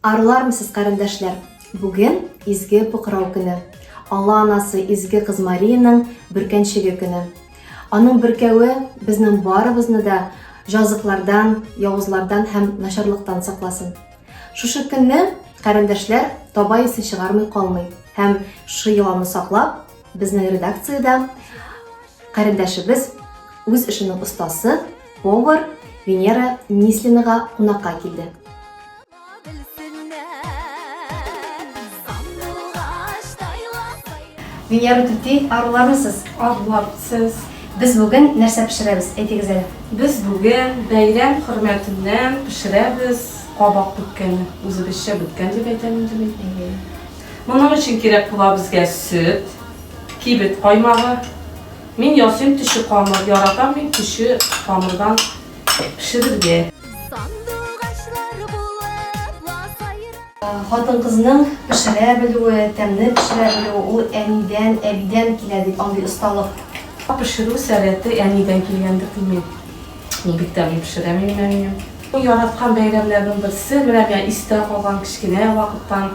Арылармсыз, карендәшләр! Бүген Изге Пукырау көне, Алла Анасы Изге Кыз Мариянең бөркәнчеге көне. Аның бөркәве безнең барыбызны да җазыклардан, явызлардан һәм начарлыктан сакласын. Шушы көнне, карендәшләр, таба исе чыгармый калмый һәм шушы йоланы саклап, безнең редакциядә Карендәшебез, үз эшенең остасы, повар Венера Нислинага кунакка килде. Венера түти, арулармысыз? Арулар, сез. Без бүген нәрсә пешерәбез? Әйтегез әле. Без бүген бәйрәм хөрмәтеннән пешерәбез кабак беткәне. Үзебезчә беткән дип әйтәм инде мин. Моның өчен кирәк була безгә сөт, Кибет каймагы. Мин ясыйм төче камыр. Яратам мин төче камырдан пешерергә. Хатын-кызның пешерә белүе, тәмне пешерә белүе ул әнидән, әбидән килә бит андый осталык. Пешерү сәләте әнидән килгәндер димме? Ул бик тәмле пешерә минем әнием. Яраткан бәйрәмнәрнең берсе, менә миңа истә калган кечкенә вакыттан.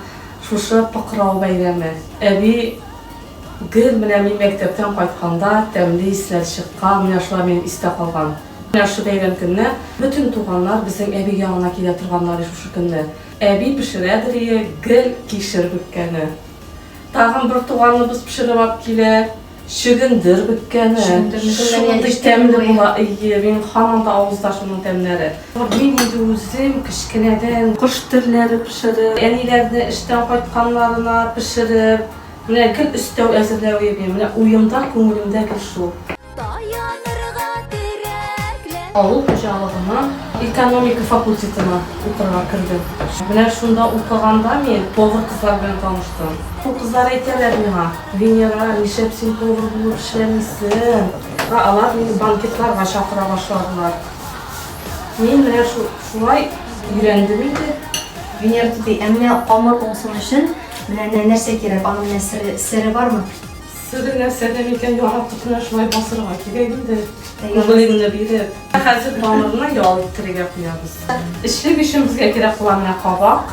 Шушы Пыкрау бәйрәме. Әби, Гел менә мин мәктәптән кайтканда тәмле исләр чыккан, менә шулар минем истә калган. Менә шушы бәйрәм көнне бөтен туганнар безнең әби янына килә торганнар и шушы көнне. Әби пешерәдер ие гел кишер бөккәне. Тагын бер туганыбыз пешереп алып килә. Чөгендер беткәне. Шундый тәмле була, әйе, минем һаман да авызда шуның тәмнәре. Мин инде үзем кечкенәдән кош терләре пешереп, әниләрне эштән кайтканнарына пешереп, менә гел өстәү әзерләү йөрим. Менә уем да, күңелем дә гел шул. Авыл хуҗалыгының экономика факультетына укырга кердем. Менә шунда укыганда мин повар кызлар белән таныштым. Шул кызлар әйтәләр миңа. Венера, нишләп син повар булып эшләмисең? Ә алар мине банкетларга чакыра башладылар. Мин менә шулай өйрәндем инде. Венера түти, ә менә камыр уңсын өчен менә нәрсә кирәк? Аның менә сере, сере бармы? Сере нәрсәдә микән? Яратып менә шулай басырга кирәк инде. Углегны биреп. Хәзер камырны ял иттерергә куябыз. Эчлек өчен безгә кирәк була менә кабак.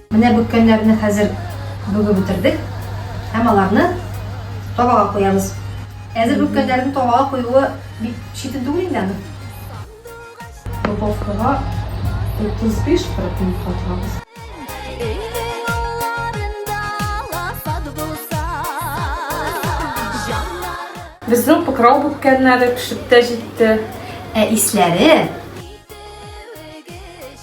Менә бөккәннәрне хәзер бүгеп бетердек һәм аларны табага куябыз. Әзер бөккәннәрнең табага куюы бик читен түгел инде аны. Духовкага 35-40 минутка тыгабыз. Безнең пыкрау бүккәннәре пешеп тә җитте. Ә исләре!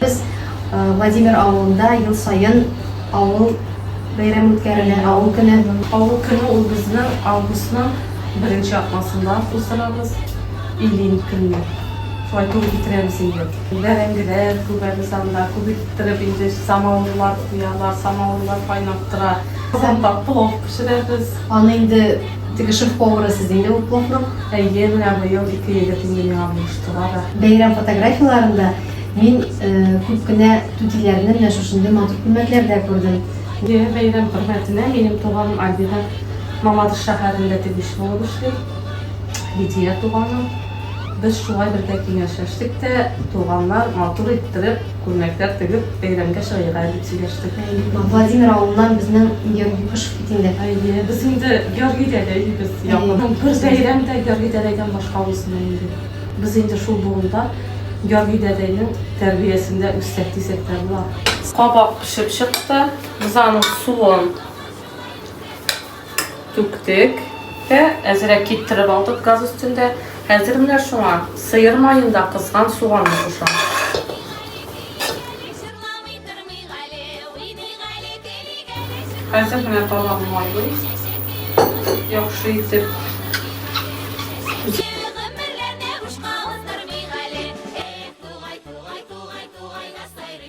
Без Владимир авылында ел саен авыл бәйрәме үткәрелә, авыл көне. Авыл көне ул безнең августның беренче атнасында уздырабыз. Илин көнне. Шулай туры китерәбез инде. Бәрәңгеләр күгәбез анда, күп иттереп инде самавырлар куялар, самавырлар кайнап тора. Казанда плов пешерәбез. Аны инде Теге шеф-повары сез инде ул поврык. Әйе, менә быел ике егет инде миңа булыштылар да. Бәйрәм фотографияләрендә мин күп кенә түтиләрне менә шушындый матур күлмәкләрдә күрдем. Әйе, бәйрәм хөрмәтенә минем туганым Альбина Мамадыш шәһәрендә тегүче булып эшли. Лидия туганым. Без шулай бергә киңәшләштек тә, туганнар матур иттереп, Күлмәкләр тегеп, бәйрәмгә чыгыйга дип сөйләштек. Владимир авылыннан безнең Георгий Кышев бит инде. Әйе, без инде Георгий дәдәй дибез. Якынның бер бәйрәм дә Георгий дәдәйдән башка узмый инде. Без инде шул болында, Георгий дәдәйнең тәрбиясендә үссәк дисәк тә була. Кабак пешеп чыкты. Без аның суын. түктек тә әзрәк киптереп алдык газ өстендә. Хәзер менә шуңа сыер маенда кызган суганны кушам. Хәзер менә тамагым майлый. Яхшы итеп.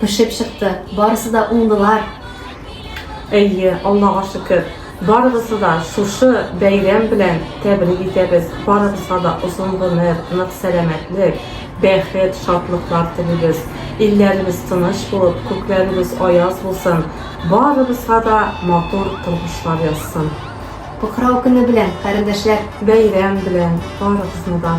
пешеп чыкты, барысы да уңдылар. Әйе, Аллага шөкер, барыгызны да шушы бәйрәм белән тәбрик итәбез, барыгызга да озын гомер, нык сәламәтлек, бәхет, шатлыклар телибез. Илләребез тыныч булып, күкләребез аяз булсын, барыбызга да матур тормышлар язсын. Покрау көне белән, карендәшләр! Бәйрәм белән барыгызны да!